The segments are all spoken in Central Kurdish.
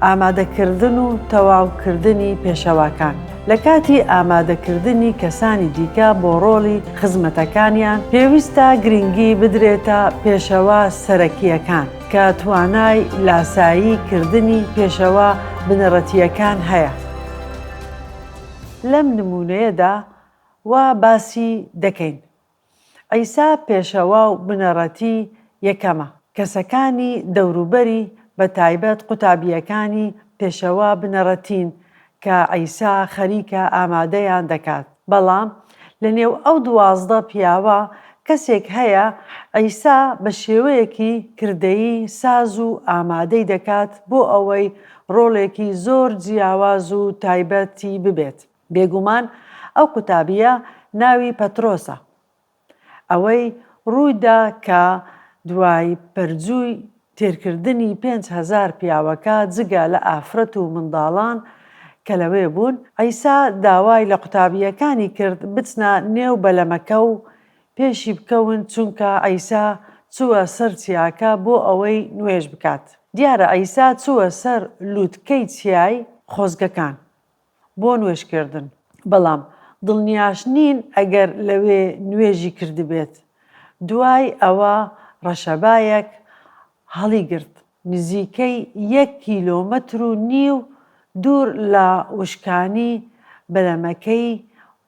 ئامادەکردن و تەواوکردنی پێشەواکان، لە کاتی ئامادەکردنی کەسانی دیکە بۆ ڕۆڵی خزمەتەکانیان، پێویستە گرنگی بدرێتە پێشەوا سەرەکییەکان کە توانای لاسایی کردنی پێشەوا بنەڕەتییەکان هەیە. لەم نموونەیەدا وا باسی دەکەین. عیسا پێشەوا و بنەڕەتی یەکەمە. کەسەکانی دەوروبەری، بە تایبەت قوتابییەکانی پێشەوا بنەڕەتین کە عیسا خەریکە ئامادەیان دەکات. بەڵام لەنێو ئەو دوازدە پیاوە کەسێک هەیە عیسا بە شێوەیەکی کردەیی ساز و ئامادەی دەکات بۆ ئەوەی ڕۆڵێکی زۆر جیاواز و تایبەتی ببێت. بێگومان ئەو قوتابییە ناوی پەترۆسە. ئەوەی ڕووی دا کە دوای پەرجووی تێرکردنی پێنج هەزار پیاوەکە جگە لە ئافرەت و منداڵان کە لەوێ بوون، عیسا داوای لە قوتابییەکانی کرد بچنە نێو بەلەمەکە و پێشی بکەون چونکە عیسا چووە سەر چیاکە بۆ ئەوەی نوێژ بکات. دیارە عیسا چووە سەر لووتکەی چیای خۆزگەکان بۆ نوێژ کردن. بەڵام دڵنیاش نین ئەگەر لەوێ نوێژی کردبێت. دوای ئەوە ڕەشەبایەک هەڵیگرت نزیکەی یەک کیلۆمەتر و نیو دوور لە وشکانی بەلەمەکەی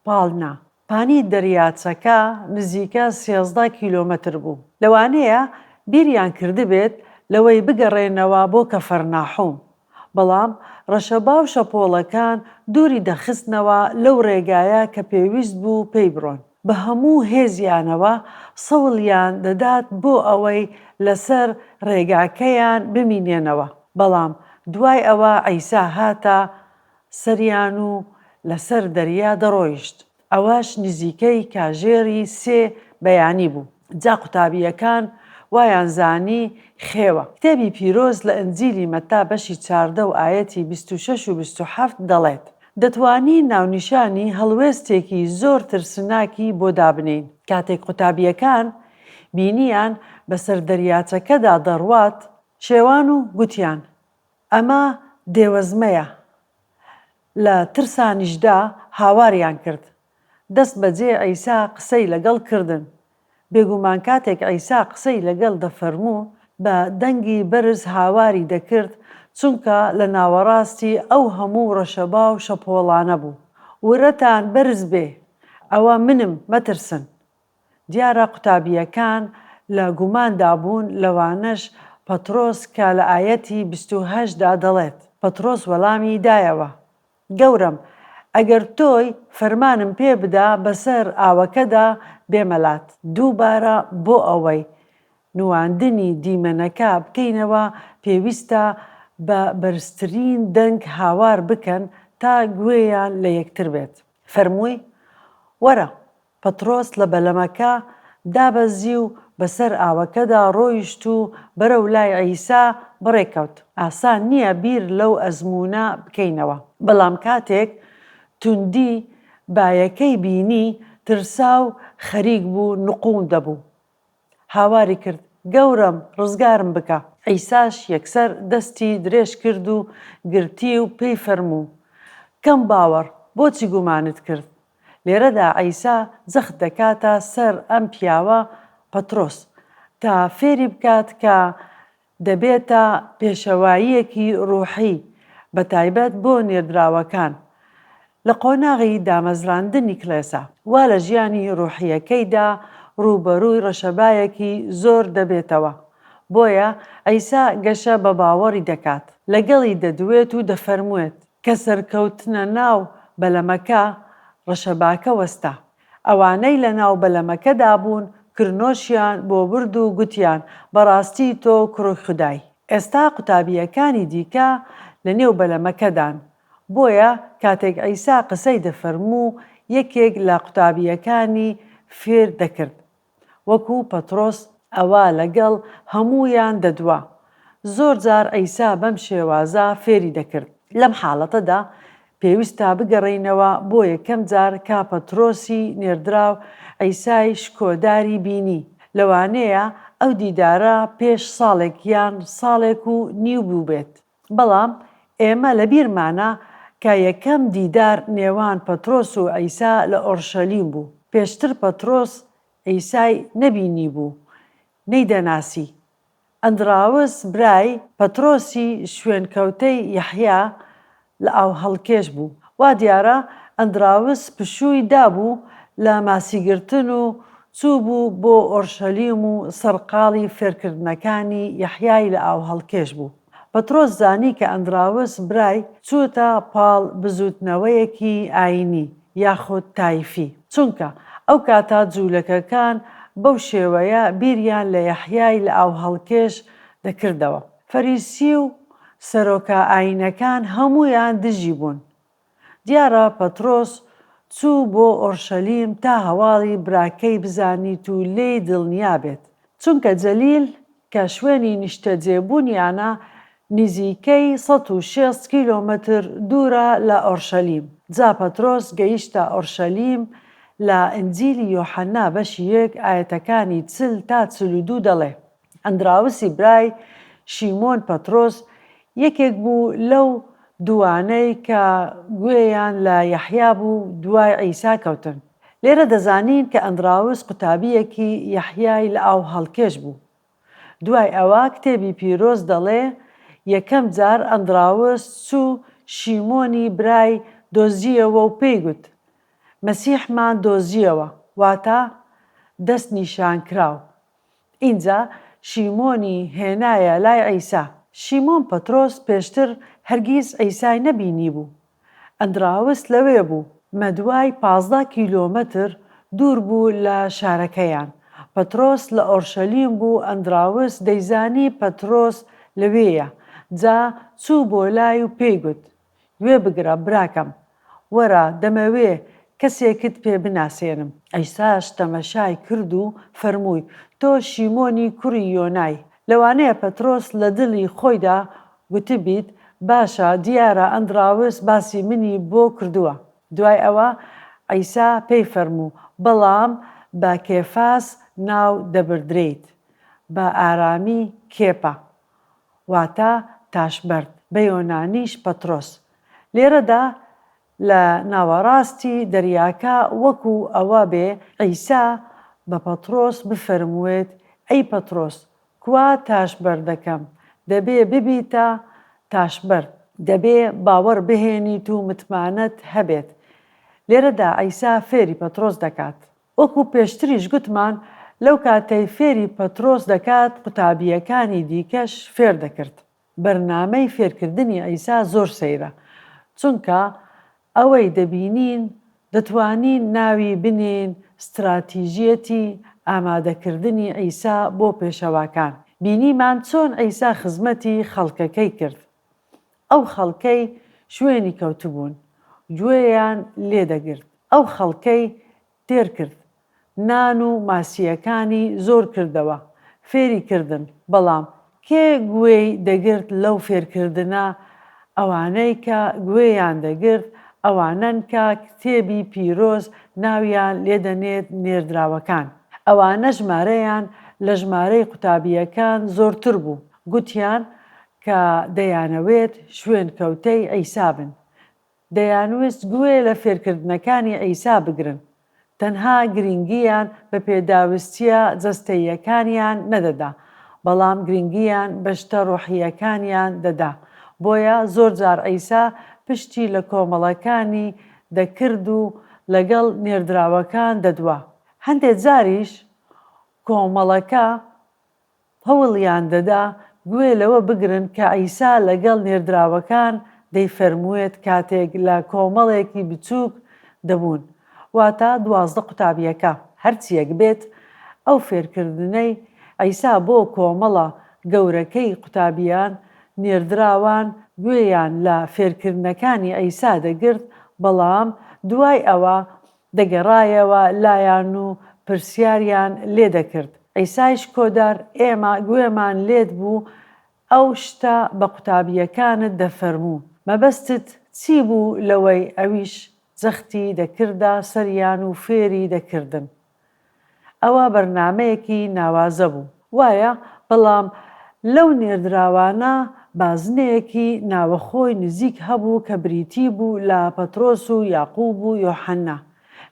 پاڵنا. پانی دەریاچەکە نزیکە سێزدە کیلۆمەتر بوو، لەوانەیە بیریان کردبێت لەوەی بگەڕێنەوە بۆ کەفەرناحوم، بەڵام ڕەشەبا و شەپۆڵەکان دووری دەخستنەوە لەو ڕێگایە کە پێویست بوو پێی بڕۆن، بە هەموو هێزیانەوە سەوڵیان دەدات بۆ ئەوەی لەسەر ڕێگاکەیان بمینێنەوە، بەڵام دوای ئەوە عیسا هاتە سەریان و لەسەر دەریا دەڕۆیشت، ئەوەش نزیکەی کاژێری سێ بەیانی بوو، جا قوتابییەکان وایان زانی خێوە. کتێبی پیرۆز لە ئنجیلی مەتا بەشی چاردە و ئایەتی بیست و شەش و بیست و حەفت دەڵێت، دەتوانی ناونیشانی هەڵوێستێکی زۆر ترسناکی بۆ دابنێین، کاتێک قوتابییەکان بینییان بەسەر دەریاچەکەدا دەڕوات، شێوان و گوتیان، ئەمە دێوەزمەیە لە ترسانیشدا هاواریان کرد دەست بەجێ عیسا قسەی لەگەڵ کردن بێگومان کاتێک عیسا قسەی لەگەل دەفەرموو بە دەنگی بەرز هاواری دەکرد چونکە لە ناوەڕاستی ئەو هەموو ڕەشەباو شەپۆڵانە بوو ورەتان بەرز بێ ئەوە منم مەترسن دیارە قوتابییەکان لە گوماندا بوون، لەوانەش پەترۆس کە لە ئایەتی بیست و هەشت دا دەڵێت، پەترۆس وەڵامی دایەوە، گەورەم، ئەگەر تۆی، فەرمانم پێ بدە بەسەر ئاوەکەدا بێمە لات، دووبارە بۆ ئەوەی نواندنی دیمەنەکە بکەینەوە پێویستە بە بەرزترین دەنگ هاوار بکەن تا گوێیان لە یەکتر بێت، فەرمووی، وەرە، پەتڕۆس لە بەلەمەکە دابەزی و بەسەر ئاوەکەدا ڕۆیشت و بەرەو لای عیسا بەڕێکەوت. ئاسان نییە بیر لەو ئەزموونە بکەینەوە، بەڵام کاتێک توندی بایەکەی بینی، ترسا و خەریک بوو نقوم دەبوو. هاواری کرد، گەورەم، ڕزگارم بکە! عیساش یەکسەر دەستی درێژ کرد و گرتی و پێی فەرموو، کەم باوەڕ، بۆچی گومانت کرد؟ لێرەدا عیسا جەخت دەکاتە سەر ئەم پیاوە، پەترۆس، تا فێری بکات کە دەبێتە پێشەواییەکی ڕوحی بەتایبەت بۆ نێردراوەکان لە قۆناغی دامەزراندنی کڵێسا. وا لە ژیانی ڕوحییەکەیدا ڕووبەرووی ڕەشەبایەکی زۆر دەبێتەوە، بۆیە عیسا گەشە بە باوەڕی دەکات، لەگەڵی دەدوێت و دەفەرموێت، کە سەرکەوتنە ناو بەلەمەکە، ڕەشەباکە وەستا. ئەوانەی لە ناو بەلەمەکەدا بوون کرنۆشیان بۆ برد و گوتیان، بەڕاستی تۆ کوڕی خودای. ئێستا قوتابییەکانی دیکە لە نێو بەلەمەکەدان، بۆیە کاتێک عیسا قسەی دەفەرموو، یەکێک لە قوتابییەکانی فێر دەکرد. وەکو پەتڕۆس ئەوا لەگەڵ هەموویان دەدوا. زۆر جار عیسا بەم شێوازە فێری دەکرد. لەم حاڵەتەدا پێویستە بگەڕێینەوە بۆ یەکەم جار کە پەتڕۆسی نێردراو عیسای شکۆداری بینی. لەوانەیە ئەو دیدارە پێش ساڵێک یان ساڵێک و نیو بووبێت. بەڵام ئێمە لە بیرمانە کە یەکەم دیدار نێوان پەترۆس و عیسا لە ئۆرشەلیم بوو. پێشتر پەترۆس عیسای نەبینیبوو، نەیدەناسی. ئەندراوس برای پەترۆسی شوێنکەوتەی یەحیا لە ئاوهەڵکێش بوو. وا دیارە ئەندراوس پشووی دابوو لە ماسیگرتن و چووبوو بۆ ئۆرشەلیم و سەرقاڵی فێرکردنەکانی یەحیای لە ئاوهەڵکێش بوو. پەترۆس زانی کە ئەندراوس برای چووتە پاڵ بزووتنەوەیەکی ئایینی یاخود تایفی، چونکە ئەو کاتە جوولەکەکان بەو شێوەیە بیریان لە یەحیای لە ئاوهەڵکێش دەکردەوە. فەریسی و سەرۆکە ئایینەکان هەموویان دژی بوون، دیارە پەتڕۆس چوو بۆ ئۆرشەلیم تا هەواڵی براکەی بزانیت و لێی دڵنیا بێت، چونکە جەلیل کە شوێنی نیشتەجێبوونیانە نیزیکەی سەد و شێست کیلۆمەتر دوورە لە ئۆرشەلیم. جا پەترۆس گەیشتە ئۆرشەلیم لە ئنجیلی یۆحەنا بەشی یەک ئایەتەکانی چل تا چل و دوو دەڵێ. ئەندراوسی برای شیمۆن پەترۆس یەکێک بوو لەو دووانەی کە گوێیان لە یەحیا بوو و دوای عیسا کەوتن. لێرە دەزانین کە ئەندراوس قوتابییەکی یەحیای لە ئاو هەڵکێش بوو. دوای ئەوە کتێبی پیرۆز دەڵێ یەکەم جار ئەندراوس چوو شیمۆنی برای دۆزییەوە و پێی گوت، مەسیحمان دۆزییەوە، واتە دەستنیشانکراو. ئینجا شیمۆنی هێنایە لای عیسا. شیمۆن پەترۆس پێشتر هەرگیز عیسای نەبینیبوو. ئەندراوس لەوێ بوو. مەدوای پازدە کیلۆمەتر دوور بوو لە شارەکەیان. پەترۆس لە ئۆرشەلیم بوو، ئەندراوس دەیزانی پەترۆس لەوێیە، جا چوو بۆ لای و پێی گوت، گوێ بگرە براکەم وەرە دەمەوێ کەسێکت پێ بناسێنم. عیساش تەمەشای کرد و فەرمووی، تۆ شیمۆنی کوڕی یۆنای. لەوانەیە پەترۆس لە دڵی خۆیدا گوتبیت، باشە دیارە ئەندڕاوس باسی منی بۆ کردووە. دوای ئەوە عیسا پێی فەرموو، بەڵام بە کێفاس ناو دەبردرێیت، بە ئارامی کێپا. واتە تاشبەرد، بە یۆنانیش پەترۆس. لێرەدا لە ناوەڕاستی دەریاکە وەکو ئەوە بێ عیسا بە پەترۆس بفەرمووێت ئەی پەترۆس کوا تاشبەردەکەم، دەبێ ببیتە تاشبەرد. دەبێ باوەڕ بهێنیت و متمانەت هەبێت. لێرەدا عیسا فێری پەترۆس دەکات. وەکو پێشتریش گوتمان لەو کاتەی فێری پەترۆس دەکات قوتابییەکانی دیکەش فێر دەکرد، بەرنامەی فێرکردنی عیسا زۆر سەیرە، چونکە ئەوەی دەبینین دەتوانین ناوی بنێین ستراتیژیەتی ئامادەکردنی عیسا بۆ پێشەواکان، بینیمان چۆن عیسا خزمەتی خەڵکەکەی کرد، ئەو خەڵکەی شوێنی کەوتبوون گوێیان لێ دەگرت، ئەو خەڵکەی تێر کرد، نان و ماسییەکانی زۆر کردەوە، فێری کردن، بەڵام کێ گوێی دەگرت لەو فێرکردنە؟ ئەوانەی کە گوێیان دەگرت ئەوانەن کە کتێبی پیرۆز ناویان لێ دەنێت نێردراوەکان. ئەوانە ژمارەیان لە ژمارەی قوتابییەکان زۆرتر بوو، گوتیان کە دەیانەوێت شوێنکەوتەی عیسا بن، دەیانویست گوێ لە فێرکردنەکانی عیسا بگرن، تەنها گرنگییان بە پێداویستییە جەستەییەکانیان نەدەدا، بەڵام گرنگییان بە شتە ڕۆحییەکانیان دەدا. بۆیە زۆرجار عیسا پشتی لە کۆمەڵەکانی دەکرد و لەگەڵ نێردراوەکان دەدوا، هەندێک جاریش کۆمەڵەکە هەوڵیان دەدا گوێ لەوە بگرن کە عیسا لەگەڵ نێردراوەکان دەیفەرموێت کاتێک لە کۆمەڵێکی بچووک دەبوون، واتە دوازدە قوتابییەکە. هەرچییەک بێت، ئەو فێرکردنەی عیسا بۆ کۆمەڵە گەورەکەی قوتابییان، نێردراوان گوێیان لە فێرکردنەکانی عیسا دەگرت، بەڵام دوای ئەوە دەگەڕایەوە لایان و پرسیاریان لێ دەکرد، عیسای شکۆدار، ئێمە گوێمان لێت بوو ئەو شتە بە قوتابییەکانت دەفەرموو، مەبەستت چی بوو لەوەی ئەویش جەختی دەکردە سەریان و فێری دەکردن؟ ئەوە بەرنامەیەکی ناوازە بوو وایە بەڵام لەو نێردراوانە بازنەیەکی ناوەخۆی نزیک هەبوو کە بریتی بوو لە پەترۆس و یاقوب و یۆحەنا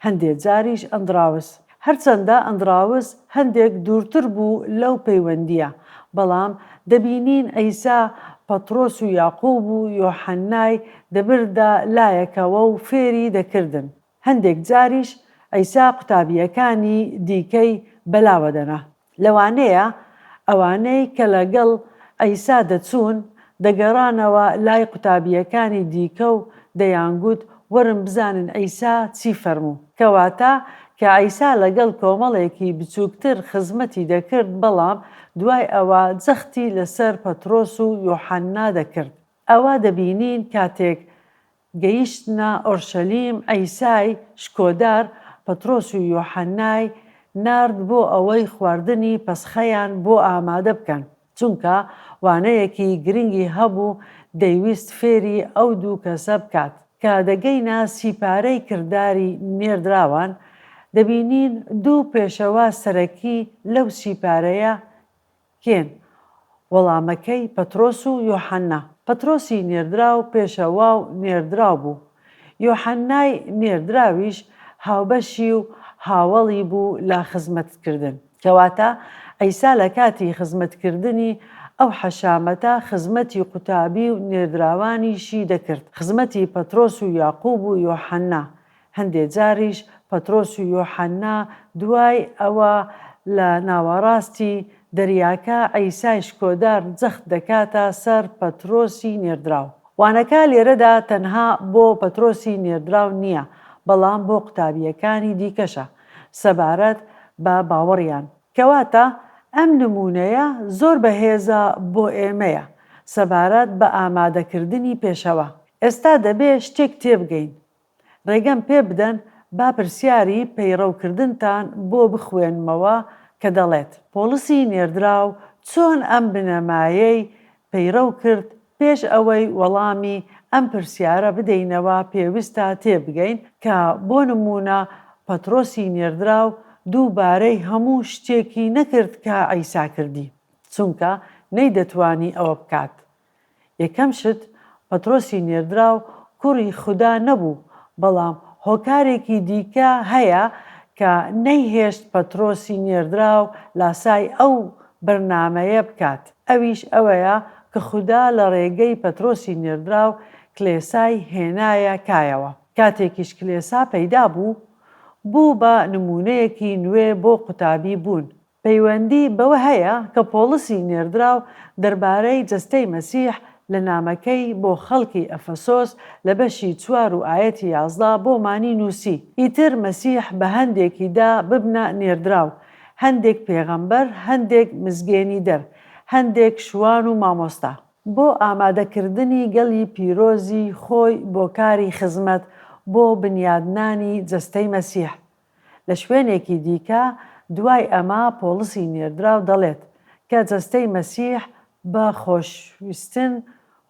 هەندێ جاریش ئەندڕاوس هەرچەندە ئەندڕاوس هەندێک دوورتر بوو لەو پەیوەندییە بەڵام دەبینین عیسا پەترۆس و یاقوب و یۆحەنای دەبردە لایەکەوە و فێری دەکردن. هەندێک جاریش عیسا قوتابییەکانی دیکەی بەلاوە دەنا. لەوانەیە ئەوانەی کە لەگەڵ عیسا دەچوون، دەگەڕانەوە لای قوتابییەکانی دیکە و دەیانگوت، وەرن بزانن عیسا چی فەرموو. کەواتە کە عیسا لەگەڵ کۆمەڵێکی بچووکتر خزمەتی دەکرد، بەڵام دوای ئەوە جەختی لەسەر پەترۆس و یوحەنا دەکرد. ئەوە دەبینین کاتێک گەیشتنە ئۆرشەلیم، عیسای شکۆدار پەترۆس و یۆحەنای نارد بۆ ئەوەی خواردنی پەسخەیان بۆ ئامادە بکەن، چونکە وانەیەکی گرنگی هەبوو دەیویست فێری ئەو دوو کەسە بکات. کە دەگەینە سی پارەی کرداری نێردراوان، دەبینین دوو پێشەوا سەرەکی لەو سی پارەیە کێن وەڵامەکەی پەترۆس و یۆحەنا؟ پەترۆسی نێردراو پێشەوا و نێردراو بوو، یۆحەنای نێردراویش هاوبەشی و هاوەڵی بوو لە خزمەتکردن. کەواتە عیسا لە کاتی خزمەتکردنی ئەو حەشامەتە خزمەتی قوتابی و نێردراوانیشی دەکرد، خزمەتی پەترۆس و یاقوب و یۆحەنا، هەندێ جاریش پەترۆس و یۆحەننا دوای ئەوە لە ناواڕاستی دەریاکە عیسای شکۆدار جەخت دەکاتە سەر پەترۆسی نێردراو. وانەکە لێرەدا تەنها بۆ پەترۆسی نێردراو نییە بەڵام بۆ قوتابییەکانی دیکەشە سەبارەت بە باوەڕیان. کەواتە ئەم نموونەیە زۆر بەهێزە بۆ ئێمەیە سەبارەت بە ئامادەکردنی پێشەوا. ئێستا دەبێ شتێک تێبگەین. ڕێگەم پێ بدەن با پرسیاری پەیڕەو کردنتان بۆ بخوێنمەوە کە دەڵێت، پۆڵسی نێردراو چۆن ئەم بنەمایەی پەیڕەو کرد، پێش ئەوەی وەڵامی ئەم پرسیارە بدەینەوە پێویستە تێ بگەین کە بۆ نموونە پەتڕۆسی نێردراو دووبارەی هەموو شتێکی نەکرد کە عیسا کردی چونکە نەیدەتوانی ئەوە بکات یەکەم شت، پەترۆسی نێردراو کوڕی خودا نەبوو، بەڵام هۆکارێکی دیکە هەیە کە نەیهێشت پەترۆسی نێردراو لاسای ئەو بەرنامەیە بکات، ئەویش ئەوەیە کە خودا لە ڕێگەی پەترۆسی نێردراو کلێسای هێنایە کایەوە. کاتێکیش کلێسا پەیدا بوو، بوو بە نموونەیەکی نوێ بۆ قوتابی بوون. پەیوەندی بەوە هەیە کە پۆڵسی نێردراو دەربارەی جەستەی مەسیح لە نامەکەی بۆ خەڵکی ئەفەسۆس لە بەشی چوار و ئایەتی یازدە بۆمانی نووسی، ئیتر مەسیح بە هەندێکی دا ببنە نێردراو، هەندێک پێغەمبەر، هەندێک مزگێنیدەر، هەندێک شوان و مامۆستا. بۆ ئامادەکردنی گەلی پیرۆزی خۆی بۆ کاری خزمەت بۆ بنیادنانی جەستەی مەسیح، لە شوێنێکی دیکە دوای ئەمە پۆڵسی نێردراو دەڵێت کە جەستەی مەسیح بە خۆشویستن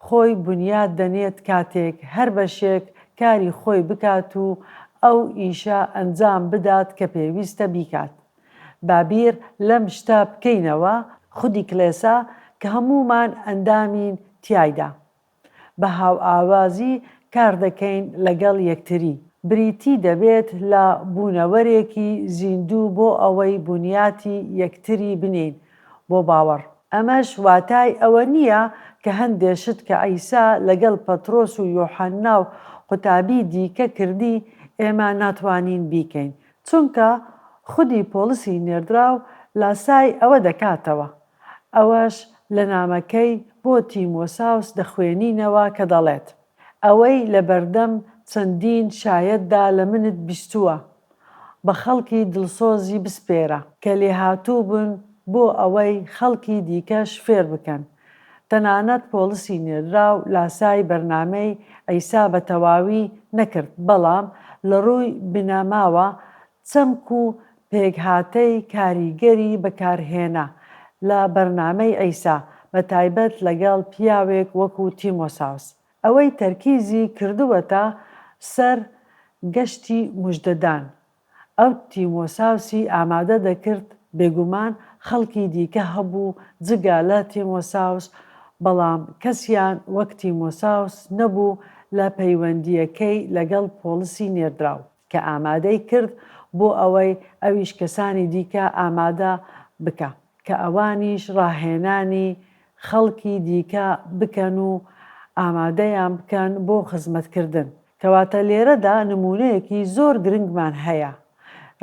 خۆی بونیاد دەنێت کاتێک هەر بەشێک کاری خۆی بکات و ئەو ئیشە ئەنجام بدات کە پێویستە بیکات با بیر لەم شتە بکەینەوە خودی کڵێسا کە هەموومان ئەندامین تیایدا بە هاوئاوازی کار دەکەین لەگەڵ یەکتری، بریتی دەبێت لە بوونەوەرێکی زیندوو بۆ ئەوەی بنیاتی یەکتری بنێین بۆ باوەڕ. ئەمەش واتای ئەوە نییە کە هەندێ شت کە عیسا لەگەڵ پەترۆس و یۆحەننا و قوتابی دیکە کردی، ئێمە ناتوانین بیکەین، چونکە خودی پۆڵسی نێردراو لاسای ئەوە دەکاتەوە. ئەوەش لە نامەکەی بۆ تیم وساوس دەخوێنینەوە کە دەڵێت، ئەوەی لە بەردەم چەندین شایەتدا لە منت بیستووە، بە خەڵکی دڵسۆزی بسپێرە، کە لێهاتوو بن بۆ ئەوەی خەڵکی دیکەش فێر بکەن. تەنانەت پۆڵسی نێردراو لاسای بەرنامەی عیسا بە تەواوی نەکرد، بەڵام لە ڕووی بنەماوە چەمک و پێکهاتەی کاریگەری بەکارهێنا لە بەرنامەی عیسا، بە تایبەت لەگەڵ پیاوێک وەکو تیمۆساوس. ئەوەی تەرکیزی کردووەتە سەر گەشتی موژدەدان، ئەو تیمۆساوسی ئامادە دەکرد، بێگومان خەڵکی دیکە هەبوو جگە لە تیمۆساوس، بەڵام کەسیان وەک تیمۆساوس نەبوو لە پەیوەندییەکەی لەگەڵ پۆڵسی نێردراو. کە ئامادەی کرد بۆ ئەوەی ئەویش کەسانی دیکە ئامادە بکا کە ئەوانیش ڕاهێنانی خەڵکی دیکە بکەن و ئامادەیان بکەن بۆ خزمەت کردن. کەواتە لێرەدا نموونەیەکی زۆر گرنگمان هەیە.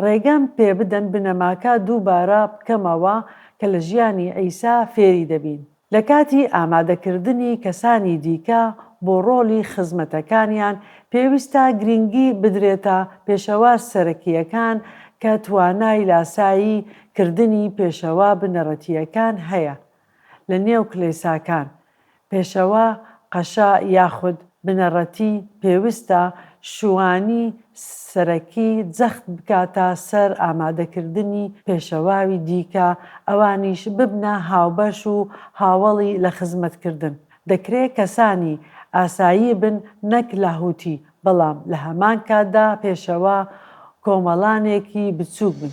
ڕێگەم پێ بدەن بنەماکە دووبارە بکەمەوە کە لە ژیانی عیسا فێری دەبین. لە کاتی ئامادەکردنی کەسانی دیکە بۆ ڕۆڵی خزمەتەکانیان، پێویستە گرینگی بدرێتە پێشەوا سەرەکییەکان کە توانای لاسایی کردنی پێشەوا بنەڕەتییەکان هەیە لە نێو کلێساکان، پێشەوا، قەشە یاخود. بنەڕەتی پێوستە شوانی سەرەکی جەخت بکاتە سەر ئامادەکردنی پێشەواوی دیکە ئەوانیش ببنە هاوبەش و هاوەڵی لە خزمەتکردن. دەکرێ کەسانی ئاسایی بن نەک لاهوتی بەڵام لە هەمان کاتدا پێشەوا کۆمەڵانێکی بچووک بن.